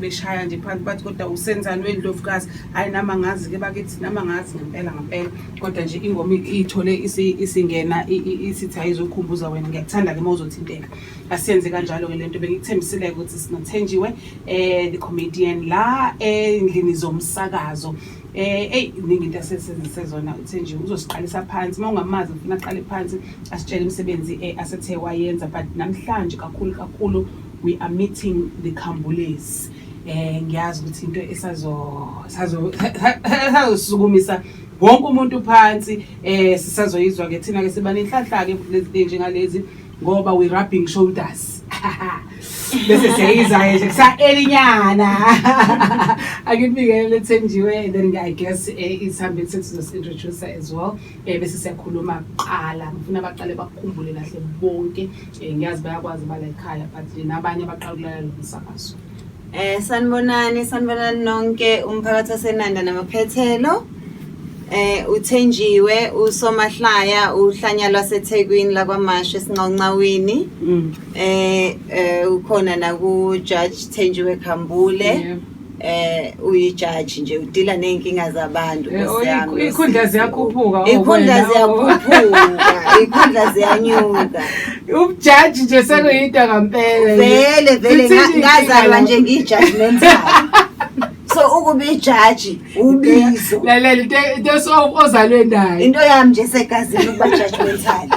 beshaya nje phansi bathi kodwa usenzani wendlovukazi hhayi nami angazi ke bakithi nami angazi ngempela ngempela kodwa nje ingoma iyithole isingena isithi ayizokhumbuza wena ngiyakuthanda ke uma uzothinteka asiyenze kanjalo ke le nto bengikuthembisile ukuthi sinothenjiwe um the comedian la endlini zomsakazo um eyi iningi into asesenzise zona uthenjiwe uzosiqalisa phansi uma ungamazi ngifuna aqale phansi asitshele imisebenzi um asethe wayenza but namhlanje kakhulu kakhulu We are meeting the Kambulez. Eh ngiyazi ukuthi into esazo sazo sazosukumisa wonke umuntu phansi eh sisazoyizwa ke thina ke siba nenhlanhla ke lezi njengalezi ngoba we rubbing shoulders bese siyayizayo nje kusahelinyana akubikele lethenjiwe then i guess eh, isihambeni sethu sizosintroducer as well Eh, bese siyakhuluma kuqala ngifuna baqale bakukhumbule kahle bonke um ngiyazi bayakwazi bala ekhaya but nabanye abaqala ukulalela lo msakazo Eh sanibonani sanibonani nonke umphakathi waseNanda namaphethelo. Eh uthenjiwe usomahlaya uhlanya lwaseThekwini lakwaMashe esinqonqawini. Mm. Eh eh ukhona naku Judge Thenjiwe Khambule. Yeah. eh uyijaji nje udila nezinkinga zabantu eh, oh, ikhundla ziyakhuphuka oh, ikhundla ziyakhuphuka ikhundla ziyanyuka ubujaji nje sekuyinto kampela vele vele ngazalwa nje ngijudgmental so ukuba ijaji ubizo lalela into ozalwe nayo into yami nje segazini ukuba judgmental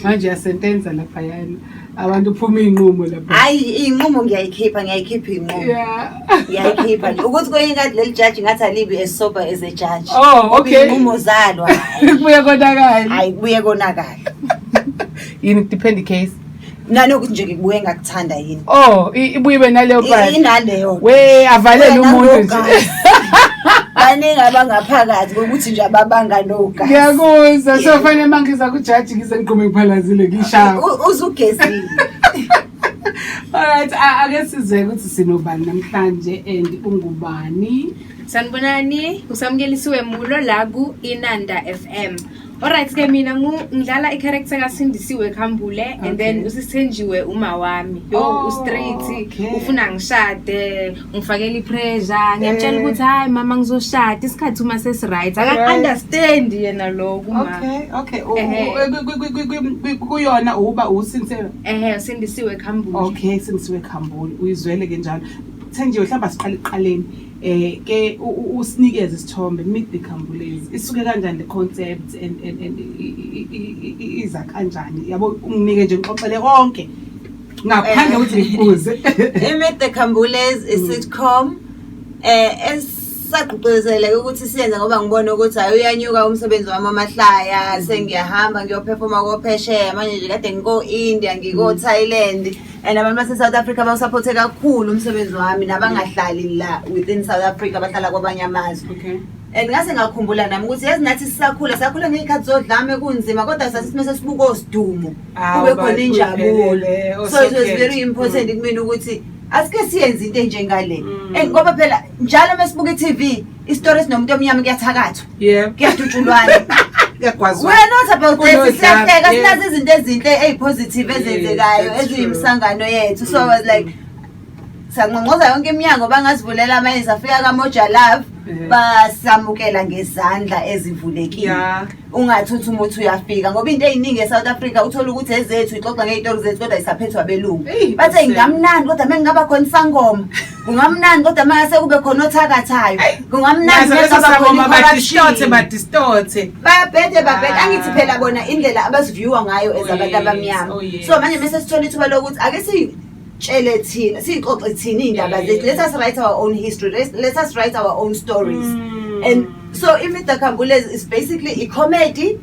manje yasentenza lapha yana abantu phuma iy'nqumo lapho hhayi iy'nqumo ngiyayikhipha ngiyayikhipha iy'nqumo ngiyayikhipha nje ukuthi kwenye inkathi leli jaji ngathi alibi as sober as a jaji oh, okay. iy'nqumo zalo kubuye konakala hhayi kubuye konakala yini depend case nanokuthi nje ngibuye ngakuthanda yini oh ibuye ibe naleyo inaleyo we avalele umuntu nje baningi abangaphakathi kokuthi nje ababanga nogazi ngiyakuzwa so fanele uma ngiza kujaji ngize ngigqume ngiphalazile ngishaya uzugezile Alright, ake size ukuthi sinobani namhlanje and ungubani? Sanibonani, usamkelisiwe Mulo la ku Inanda FM. Alright ke mina ngidlala i-character kaSindisiwe Khambule okay. and then usithenjiwe uma wami. Yo oh, ustraight okay. ufuna ngishade, ngifakela ipressure, ngiyamtshela eh. ukuthi hayi mama ngizoshada isikhathi uma sesi right. Aka understand yena lo kuma. Okay, okay. Kuyona uba uSindisiwe. Ehhe uSindisiwe Khambule. Okay, Sindisiwe Khambule. Uyizwele ke njalo. Thenjiwe hlamba siqale iqaleni. eh ke usinikeze isithombe meet the khambulezi isuke kanjani le concept and and and iza kanjani yabo unginike nje ngixoxele konke ngaphandle ukuthi ngibuze meet the khambulezi is sitcom eh es sagqugquzeleke ukuthi siyenze ngoba ngibona ukuthi hayi uyanyuka umsebenzi wami amahlaya sengiyahamba ngiyophefoma kophesheya manje nje kade ngiko-india ngiko-thailand mm. and abantu base-south africa bawusaphothe kakhulu umsebenzi wami nabangahlali la within south africa bahlala kwabanye amazwe okay and ngase ngakhumbula nami ukuthi yazi nathi sisakhula sakhula ngey'khathi zodlame kunzima kodwa sathi simese sibuka osidumo Awu, kube khona bathi injabulo uphelele, so it was osekhetho. very important kumina ukuthi asike siyenze into enjengale Mm. and ngoba phela njalo uma sibuka i-tv isitori esinomuntu omnyama kuyathakathwa yebo kuyadutshulwana kuyagwazwa wena not about that siyahleka sinazi izinto ezinhle ezipositive ezenzekayo eziyimsangano yethu so i was like mm. sanqonqoza yonke iminyango bangazivulela amanye safika kamoja love basamukela ngezandla ezivulekile ungathi uthi umuthi uyafika ngoba into eyiningi e-south africa uthole ukuthi ezethu ixoxa ngey'tori zethu kodwa isaphethwa abelungu bathe ngingamnandi kodwa uma ngingaba khona isangoma kungamnandi kodwa uma ngase kube khona othakathayo kungamnandibadistothe badistothe babhede babhede angithi phela bona indlela abaziviewa ngayo ezabantu oh, abamnyama oh, so manje mese sithola ithuba lokuthi ake tshele thina siyixoxe thina iy'ndaba zethu let us write our own history let- let us write our own stories Mm. and so imida khambulezi is basically i-comedy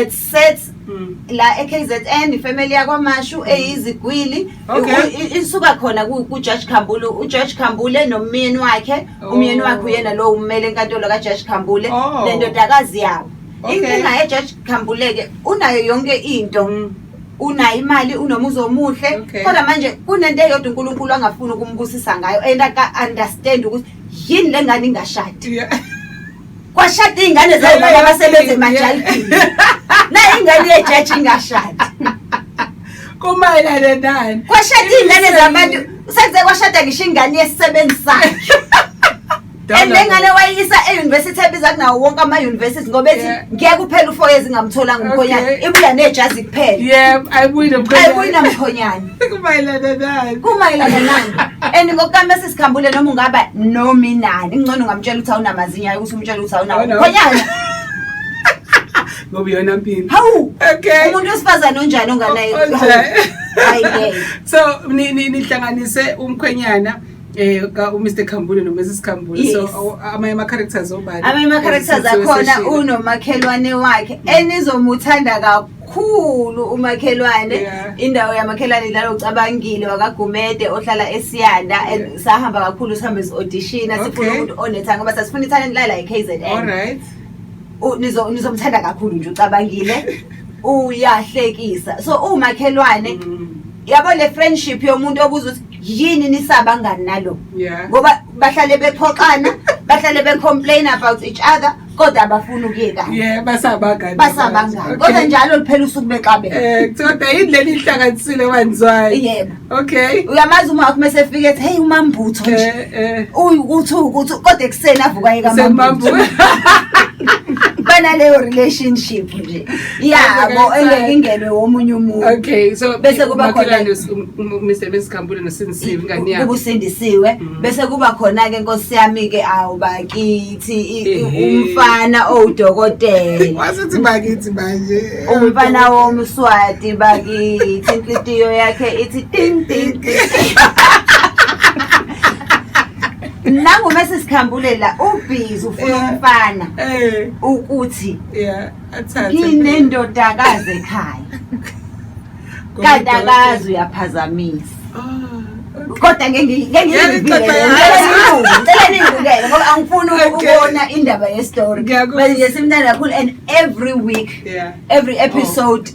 it sets Mm. la e-kzn ifamily yakwamashu eyizigwili Okay. I- i- isuka khona ku- kujaji khambule ujaji khambule nomyeni wakhe Oh. umyeni wakhe uyena lowo ummele enkantolo kajaji khambule Oh. nendodakazi yabo Okay. inkinga ejaji khambuleke unayo yonke into Mm. unayo imali unomuzi omuhle Okay. kodwa manje kunento eyodwa unkulunkulu angafuni ukumbusisa ngayo and aka-understand ukuthi yini le ngane ingashadi Yeah. kwashada iy'ngane zayo baba abasebenza emajalidini nayo ingane yejaji ingashadi kumayelana nani kwashada iy'ngane zabantu senze kwashada ngisho ingane yesisebenzi sakhe and lengane wayisa e-university ebiza kunawo wonke ama-university ngoba ethi ngeke uphele ufour years ingamtholanga umkhonyana ibuya nejazi kuphela ayibuyina mkhonyana kumayelana nani and ngokukame sisikhumbule noma ungaba nomi nani kungcono ungamtshela ukuthi awunamazinyo ayo ukuthi umtshela ukuthi awunawo mkhonyana ngoba iyona mpilo hawu okay umuntu wesifazane onjani onganayo so nihlanganise umkhwenyana eh ka uMr Khambule noMrs Khambule yes. so amanye ama characters obani amanye ama characters akhona unomakhelwane wakhe mm. enizomuthanda kakhulu umakhelwane yeah. indawo yamakhelwane la ocabangile wakagumede ohlala eSiyanda yeah. and sahamba kakhulu sihambe audition okay. sifuna umuntu onethanga ngoba sasifuna italent la la eKZN all right nizo nizomthanda kakhulu nje ucabangile uyahlekisa so umakhelwane mm. yabo le friendship yomuntu obuza ukuthi yini nisaba ngani nalo Yeah. ngoba bahlale bephoxana bahlale becomplain about each other kodwa abafuni ukuyekana Yeah, basabangani. basabangani Okay. kodwa njalo liphela usuku bexabene Eh, kodwa yini leli ihlanganisile wanzwayi? yebo Okay. uyamazi uma wakho mese efike ethi hey umambutho nje Eh, eh. uyukuthi ukuthi kodwa ekuseni avuka yeka Semambu. amambutho banaleyo relationship nje yabo engeke ingenwe womunye umuntu okay so bese kuba khona Mr Mrs Khambule nosindisiwe ingane yakhe ubusindisiwe mm. bese kuba khona ke nkosi yami ke awu bakithi umfana owudokotela wasithi bakithi manje umfana womswati bakithi inhliziyo yakhe ithi ting ting ting nangu mese sikhambulela ubhizi ufuna umfana eh. ukuthi yeah nginendodakazi ekhaya kanti akazi uyaphazamisa kodwa ngengiyibikele ngoba angifuni ukubona indaba yestory ngiyakuba nje simnandi kakhulu and every week yeah. every episode oh.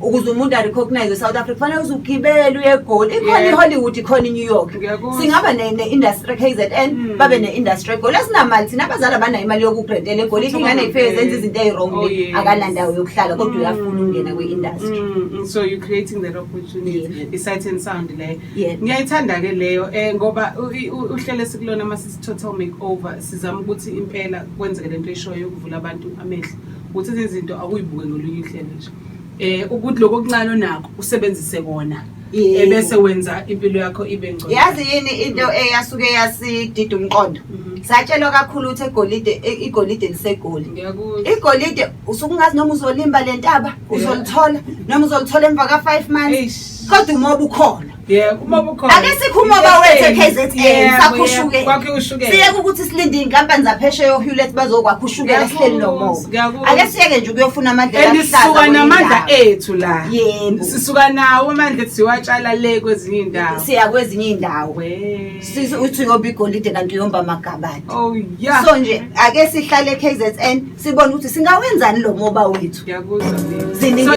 ukuze umuntu arecognize south africa kufanele uze ugibele uye egoli ikhona Yeah. ihollywood ikhona inew york Ngiyakuzwa. singaba ne- ne-industry kzn Mm. babe ne-industry egoli asinamali thina abazali abanayo imali yokubrendela egoli Kuthiwa ingane ifike babe- zenza izinto eyi-wrong Oh, le yes. akanandawo yokuhlala kodwa Mm. uyafuna ukungena kwi-industry Mm, mm, so you're creating that opportunity Yeah. isight and sound leyo Yeah. ngiyayithanda ke leyo um ngoba u- i- u- uhlelo esikulona uma sithi total make over sizama ukuthi impela kwenzeke le nto eshoyo yokuvula abantu amehlo ukuthi izinto akuyibuke ngolunye uhlelo nje eh ukuthi lokho okuncane onakho usebenzise kona Yebo. ebese wenza impilo yakho ibe ngcono yazi yini into eyasuke yasidida umqondo Mhm. satshelwa kakhulu ukuthi egolide e- igolide lisegoli ngiyakuzwa igolide usuke ungazi noma uzolimba le ntaba uzolithola noma uzolithola emva ka-five months Eish. kodwa umoba ukhona Yebo, uma bukhona. Ake sikhume bawethe KZN sakhushuke. Kwakhe ushukela. Siyeke ukuthi silinde inkampani zapheshe yo Hewlett bazokwakha ushukela sihleli nomo. Ake siyeke nje ukuyofuna amandla ahlaza. Sisuka namandla ethu la. Yebo. Sisuka nawo amandla ethi siwatshala le kwezinye indawo. Siya kwezinye indawo. Sisi uthi yoba igolide kanti uyomba magabane. Oh yeah. So nje ake sihlale KZN sibone ukuthi singawenzani lo moba wethu. Ngiyakuzwa. Ziningi